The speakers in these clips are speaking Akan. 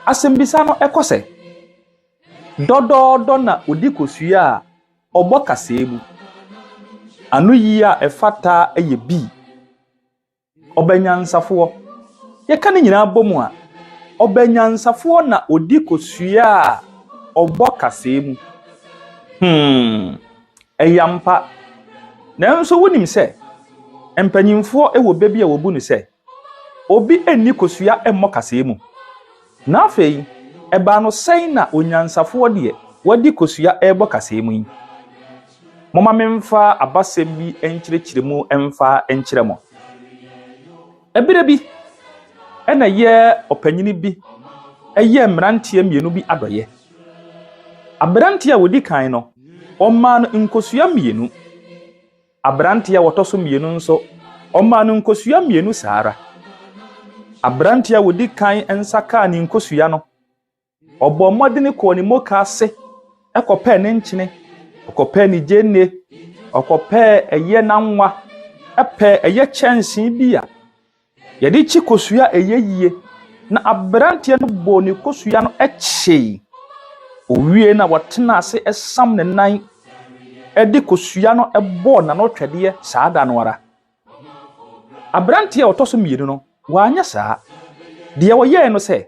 Asɛmbisa no kɔ sɛ, Dɔdɔɔdɔ na odi kosua a ɔbɔ kasaa mu. Anoyi a ɛfata yɛ B. Ɔbɛ nyansafoɔ. Yɛka ne nyinaa bɔ mu a, ɔbɛ nyansafoɔ na odi kosua a ɔbɔ kasaa mu. Hmm, ɛyɛ ampa. Nanso wonim sɛ mpanyimfoɔ wɔ bɛ bi a wɔbu no sɛ. Obi nni kosua mmɔ kaseɛ mu. Na afei, ɛbaa no sɛn na onyansafoɔ deɛ wadi kosua rebɔ kaseɛ mu yi? Momma memfa abasɛm bi nkyerɛkyerɛ mu mfa nkyerɛ mo. Ɛberɛ bi, ɛna yɛ ɔpanyini bi yɛɛ mmeranteɛ mmienu bi adɔeɛ. Aberanteɛ a ɔdi kan no, ɔmaa no nkosua mmienu. Aberanteɛ a ɔtɔ so mmienu nso, ɔmaa no nkosua mmienu saa ara. Aberanteɛ a ɔdi kan nsa kaa ne nkosua no, ɔbɔɔ mmɔden kɔɔ ne moka ase kɔpɛɛ ne nkyene, ɔkɔpɛɛ ne gyeene, ɔkɔpɛɛ ɛyɛ nanwa, pɛɛ ɛyɛ kyɛnsee bi a Yɛde kyi kosua a ɛyɛ yie, na aberanteɛ no bɔɔ ne kosua no kyee. Ɔwiee no a, ɔtenaa ase sam ne nan de kosua no bɔɔ n'ano twɛdeɛ saa da no ara. Aberanteɛ a ɔtɔ so mmienu no, wanyɛ saa. Deɛ ɔyɛeɛ no sɛ.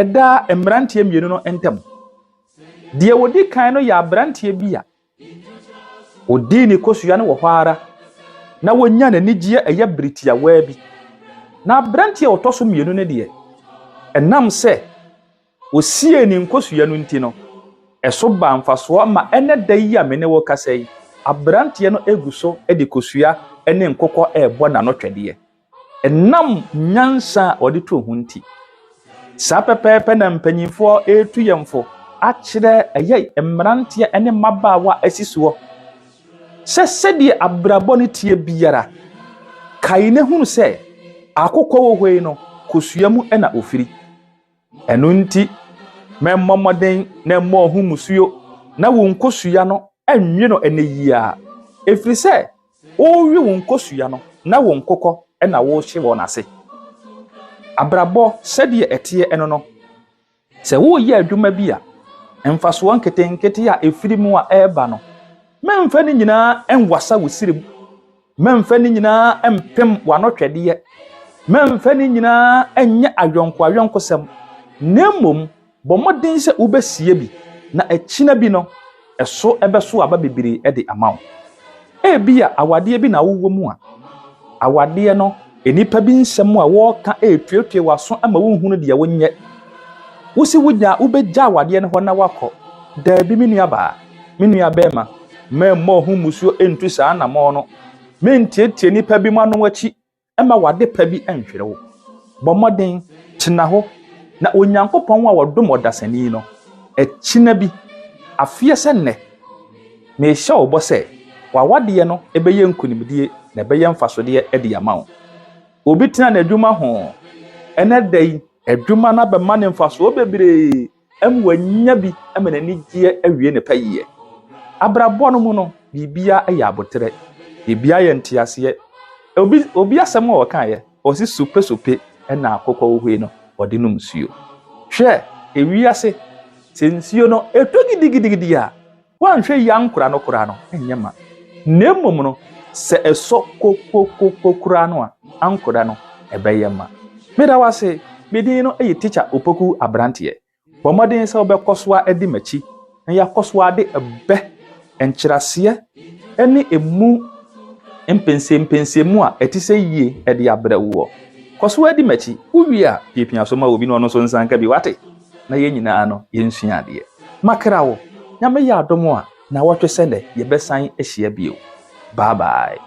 ɛdaa mmeranteɛ mmienu no ntam. Deɛ ɔdi kan no yɛ aberanteɛ bi a ɔdii ne kosua no wɔ hɔ ara na wɔnya n'anigyeɛ ɛyɛ bere tiawaa bi. Na aberanteɛ a ɔtɔ so mmienu no deɛ, ɛnam sɛ ɔsiee ne nkosua no nti no, ɛso baa mfasoɔ ma ɛnɛ da yi a me ne wo kasa yi, aberanteɛ no gu so de kosua ne nkokɔ rebɔ n'anotwɛdeɛ. Ɛnam nyansa a wɔde too ho nti, saa pɛpɛɛpɛ na mpanyimfoɔ retu yɛn fo akyerɛ ɛyɛ mmeranteɛ ne mmabaawa a asi soɔ sɛ sɛdeɛ abrabɔ no teɛ biara, kae na hunu sɛ akokɔ wɔ hɔ yi no, kosua mu na ofiri. Ɛno nti, mɛmmɔ mmɔden na mmɔɔ ho mmusuo na wo nkosua no nwe no ɛnnɛ yi ara, ɛfiri sɛ worewe wo nkosua no na wo nkokɔ na worehye wɔn ase. Abrabɔ sɛdeɛ ɛteɛ no no, sɛ woreyɛ adwuma bi a, mfasoɔ nketenkete a ɛfiri mu a ɛreba no, mɛmfa ne nyinaa nwasa wo srem. Mɛmfa ne nyinaa mpem w'anɔtwɛdeɛ, mɛmfa ne nyinaa nyɛ ayɔnkoayɔnkosɛm, na mmom bɔ mmɔden sɛ wobɛsie bi, na akyina bi no, ɛso bɛso aba bebree de ama wo. Ebia awadeɛ bi na wowɔ mu a, awadeɛ no Nnipa bi nsɛm a wɔka retuetue w'aso ama wonhunu deɛ wonyɛ. Wosi wonya wobɛgya awadeɛ no hɔ na wakɔ. Daabi me nuabaa, me nuabɛrima, mɛmmɔ ho mmusuo ntu saa anammɔn no. Mentietie nnipa bi mu ano akyi mma w'ade pa bi nhwere wo. Bɔ mmɔden, tena hɔ, na Onyankopɔn a ɔdom ɔdasani no, akyina bi, afeɛ sɛ nnɛ, Mehyɛ wo bɔ sɛ, w'awadeɛ no bɛyɛ nkonimdie na ɛbɛyɛ mfasodeɛ de ama wo. Obi tena n'adwuma ho ɛnnɛ da yi. Adwuma no abɛma no mfasoɔ bebree ama wanya bi ama n'anigyeɛ awie ne pɛyɛ. Abrabɔ no mu no, biribiara yɛ aboterɛ. Biribiara yɛ nteaseɛ. Obi obi asɛm a ɔkaeɛ, ɔse sopesope na akokɔ wohoi no ɔde nom nsuo. Hwɛ ewiase, sɛ nsuo no ɛtɔ gidigidigidi a, Woanhwɛ yie ankora no koraa no, ɛnyɛ ma. Na mmom no, sɛ ɛsɔ kokokoko koraa no a, ankora no, ɛbɛyɛ ma. Meda wo ase. Me din no ye Tikya Opoku Aberanteɛ. Bɔ mmɔden sɛ wobɛkɔ so ara adi m'akyi na yɛakɔ so ara de ɛbɛ, nkyerɛaseɛ ne ɛmu mpɛnsɛmpɛnsɛmu a ɛte sɛ yie de abrɛ woɔ. Kɔ so ara di m'akyi. Wowie a, piapia so ma obi na ɔno nso nsa nka bi. Wate? na yɛn nyinaa no yɛnsua adeɛ. Makra wo, Nyame yɛ adom a, nnawɔtwe sɛ nnɛ yɛbɛsan ahyia bio. Bye bye.